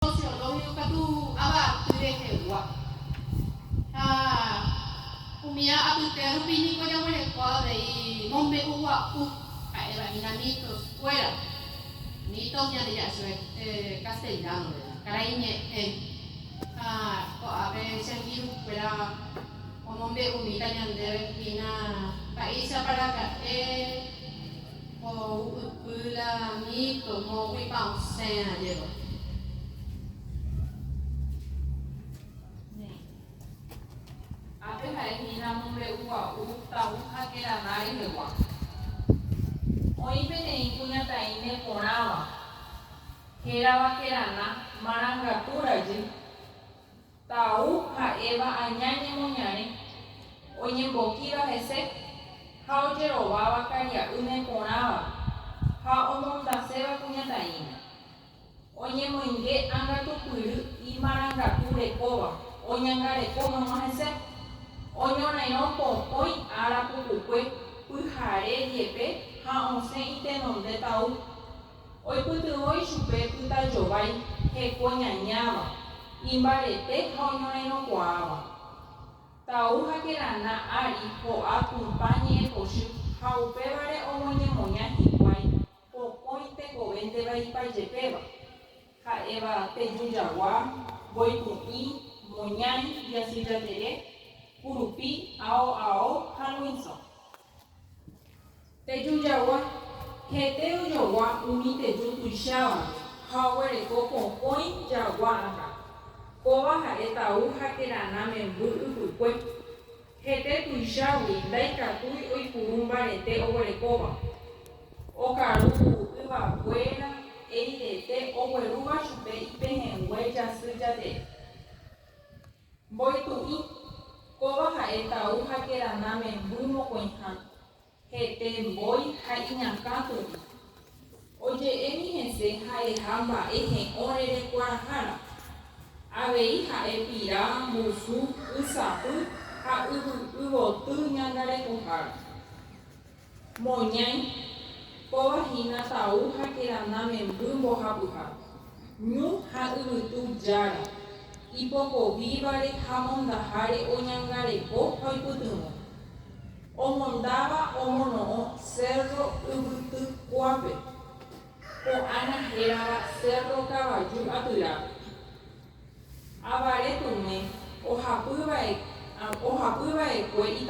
Sociólogo katu avaty rehegua. Ha umi apytéa rupi niko jaguereko avei mombe'ugua'u, ha'éva hína mitos kuéra. Mitos ñande ja'ése castellano-re, karai ñe'ẽ. Ha ko'ápe che virus kuéra omombe'umíta ñandéve hína paísapa raka'e. Ko ypy la mito moõguipa osẽ ajévo. Néi. Ápe ha'e hína mombe'ugua'u Taú ha Keradá rehegua. Oĩ peteĩ kuñataĩme porãva, hérava Keradá marangatu rajy, Tau ha Eva aña ñemoñare, oñembokíva hese ha ojerováva karia'y neporãva ha omondaséva kuñataĩme. Oñemoinge angatupyry imarangatu rekóva oñangareko hag̃ua hese, oñorairõ pokõi ára pukukue pyhare jepe ha osẽ itenonde tau. Oipytyvõ ichupe pytajovái heko ñañáva, imbarete ha oñorẽrõkuaáva. Tau ha kerana ári ho'a Tupã ñe'ẽpochy ha upévare omoñemoña hikuái pokõi tekovénteva ipajepéva, ha'éva Teju Jagua, Mboypu'ĩ, Moñãi, Jasy Jatere, Kurupi, Ao Ao ha Luĩnso. Teju jagua, hete ojogua umi teju tuichávape ha oguereko pokõi jagua ata. Kóva ha'e tau ha kerana memby ypykue. Hete tuichágui ndaikatúi oipuru mbarete oguerekóva. Okaru yvakuéra eirete oguerúva chupe ipehẽngue jasy jatere. Mboytu'ỹ, Kóva ha'e tau ha kerana memby mokõiha, hete mbói ha iñakã tu'ỹ. Oje'émi hese ha'eha mba'e he'õ rerekuarahára. Avei ha'e pira, mbusu, y sapy ha yvy yvoty ñangarekohára. Moñãi, kóva hína tau ha kerana memby mbohapyha, ñu ha yvytu jára, ipokovívare ha mondaháre oñangareko ha oipytyvõ. Omondáva omono'õ Cérro Yvytykuápe, ko'ág̃a hérava Cérro Kavaju Atyra. Avare tume ohapy va'ekue ita'ýra.